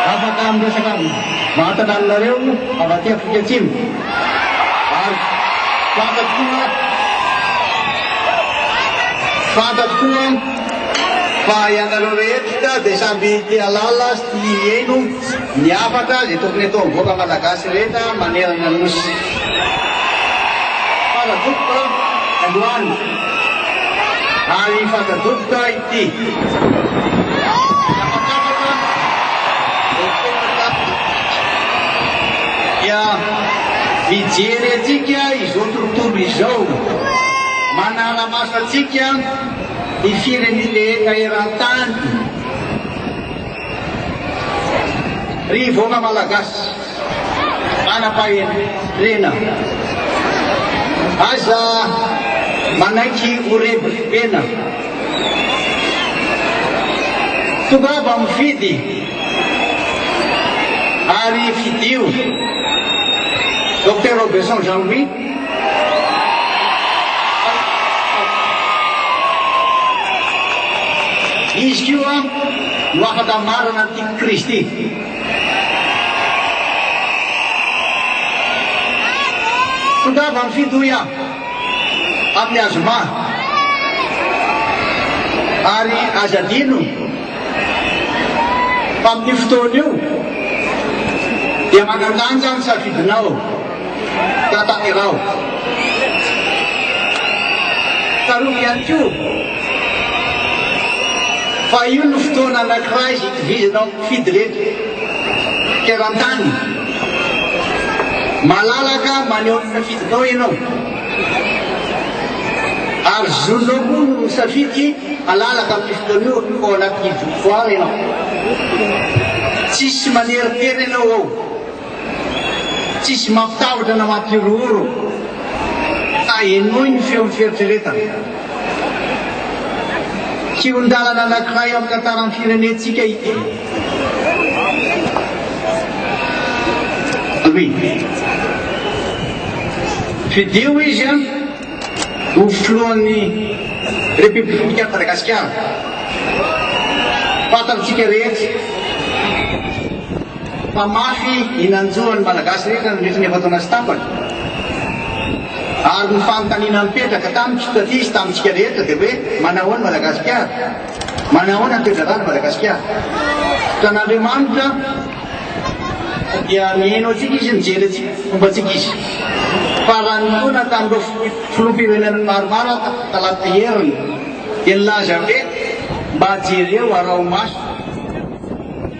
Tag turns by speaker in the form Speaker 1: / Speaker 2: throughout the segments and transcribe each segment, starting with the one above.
Speaker 1: Afaka miresaka mahatana aminareo avy aty Afrika Atsimo ary fantatro koa fantatro koa fa ianareo rehetra dia samby te halala sy tia hihaino ny hafatra izay tokony ataon'ny vahoaka malagasy rehetra manerana ny Nosy. Fantadroboka androany ary fantadroboka Dia mijery antsika izao tontolo izao, manara-maso antsika ny firenena eran-tany. Ry vahoaka Malagasy manam-pahendrena, aza manaiky ho rebi-pena. Tongava mifidy ary fidio Docteur Robeson Jean Louis. Izy koa no afaka marana ny tian'i Kristy. Tongava ny fidoia amin'ny azy maha ary aza adino fa amin'io fotoana io dia manandanja ny safidinao. Tantanirao. Tsarovy ihany koa fa io no fotoana anankiray izay itovizana amin'ny mpifidy rehetra teran-tany. Malalaka maneho ny safidinao ianao. Ary zonao koa no misafidy halalaka amin'ny fotoana io ao anatin'ny vitoire ianao. Tsisy maneritery ianao ao. Tsisy mampitahotra na mampihorohoro fa henoy ny feon'ny fieritreretana. Kihon-dalana anankiray amin'ny tantaran'ny firenentsika ity. Louis. Fidio izy an, ho filohan'ny Repoblikan'i Madagasikara. Fantantsika rehetra. Mpamafy ny nanjo ny Malagasy rehetra nandritra ny efa-taona sy tapany. Ary ny fanontaniana mipetraka tamiko, taty sy tamintsika rehetra dia hoe manahoana i Madagasikara? Manahoana ny toe-draharaha ny Madagasikara? Taonan'Andriamanitra dia mihaino antsika Izy, mijery antsika, fomba antsika Izy. Fa raha ninoana tamin'ireo filoham-pirenena maromaro aho talata heriny dia nilaza hoe mba jereo araho maso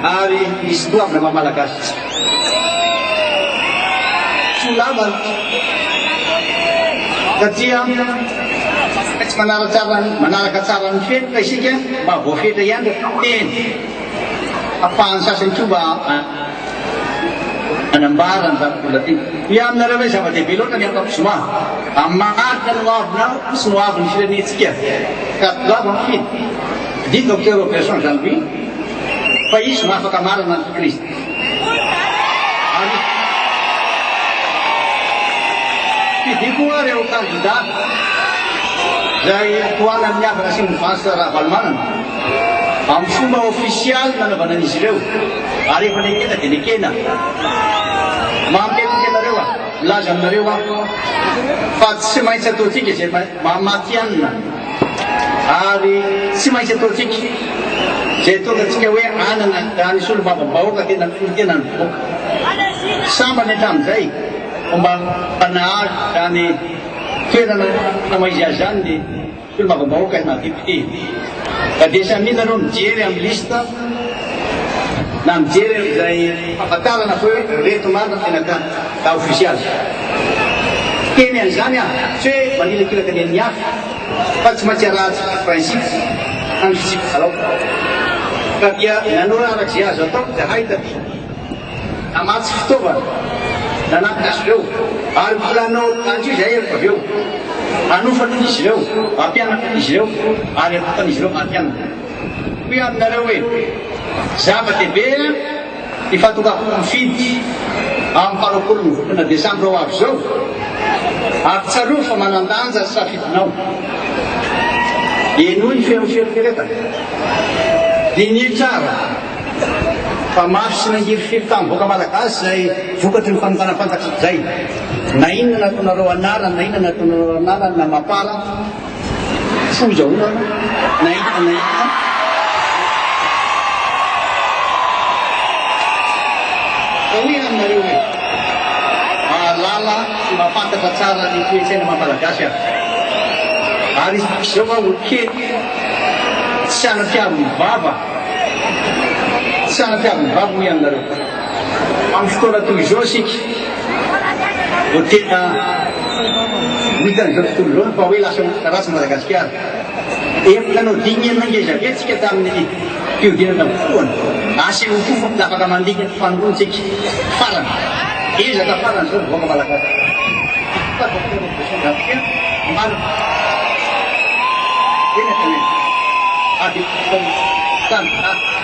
Speaker 1: Ary misy doavina maha Malagasy isika. Soa lavana ka dia tsy manaratsara manaraka tsara ny fenitra isika mba voafetra ihany teny. Afahan'ny sasany koa mba anambara ny zava-bola tiana. Ny aminareo ilay zava-dehibe loatra ny ankapozoma. Amin'ny maharitra no avina sy no avy ny firenentsika. Ka doavina fino. Didiko Robertson Jean-Louis. Fa izy no afaka manana ny Kristy. Ary fidiako hoa ireo kandidà izay tohanan'ny havana sy ny vasa Ravalomanana amin'ny fomba ofisialy nanaovana an'izy ireo ary efa nekena dia nekena. Mampihentitra anareo aho, milaza aminareo aho fa tsy maintsy ataontsika izay maha matihanina. Ary tsy maintsy ataontsika izay tongatsika hoe anana raha ny solombavambahoaka tena mifehy tena ny voaka. Sambany hatramin'izay vao mba nahazo izany toerana fanaoiziazany ny solombavambahoaka na député. Fa dia samia nareo mijery amin'ny liste na mijery an'izay famantarana fa hoe reto marina tena tany. Raha ofisialy. Hiteny an'izany aho, tsy hoe manilakilaka ny an'ny hafa, fa tsy maintsy arahantsika ny principe, hangitsiako kalaoty. Ka dia nanoro araka izay azo atao izahay taty, namatsy fitaovana, nanampy azy ireo, ary mbola hanao an'io izahay rehefa avy eo, hanofana an'izy ireo, hampianatra an'izy ireo, ary hatokan'izy ireo hampianatra. Hoy aho aminareo hoe, zava-dehibe. Ifantokafon'ny fidy amin'ny fah roapolo ny volana desambra ho avy izao ary tsarovy fa manan-danja ny safidinao. Henoy ny feon'ny fieritreretana. Diniho tsara fa mafy sy mangirifiry tamin'ny vahoaka malagasy izay vokatry ny fanongana fantatry izay na inona nataonareo anarany na inona nataonareo anarany na mapar Foza olona anao. Nahita nahita. Ka hoy aho aminareo hoe, mahalala sy mahafantatra tsara ny toe-tsaina maha Malagasy aho. Ary izy izao aho ho kely, tsy hanampiavon'ny vava, tsy hanampiavon'ny vava hoy aho aminareo. Amin'ny fotoana toy izao isika. Vao tena ho hitan'izao tontolo izao ny fa hoe lasa ratsy i Madagasikara. Efa nanao dimy enina ngeza be tsika tamin'ny fihodinana voalohany. Asa eo koa fa afaka mandika ny fanoloana tsika farany. Ezaka farany izao ny vahoaka malagasy. Tena tena. Ady tany.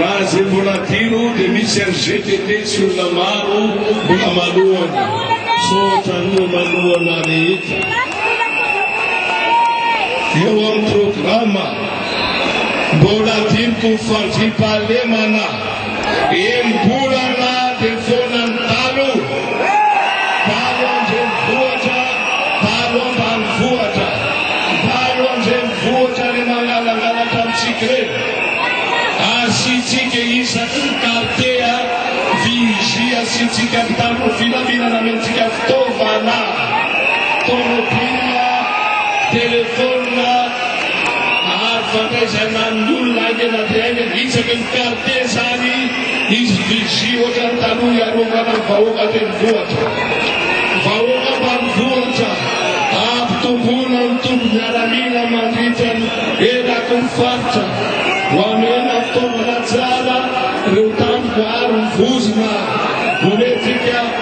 Speaker 2: Raha izay mbola adino dia misy any GTT tsy olona maro mbola manohana. Misaotra an'ireo manohana rehetra. Eo amin'ny programa, mbola adinoko ny fandriampahalemana. Enim-bolana dia ny foanan'ny dalo. Dalo an-drenivohitra, dalo ambanivohitra. Dalo an-drenivohitra ny mangalangalatra amintsika ireny. Asiantsika isaky ny quartier vigie asiantsika mpitandro filaminana amentsika fitaovana, tomobila, telephone, Ary fandaisanà ny olona haingana dia haingana isaky ny mpiara-tesa ary izy vigie ohatra ny taloha hiarovana ny vahoaka renivohitra. Vahoaka ambanivohitra, ampitomboina ny toby miaramila mandritra ny eraky ny faritra. Hohamena fitaovana tsara ireo tampoka ary hovozona boletika.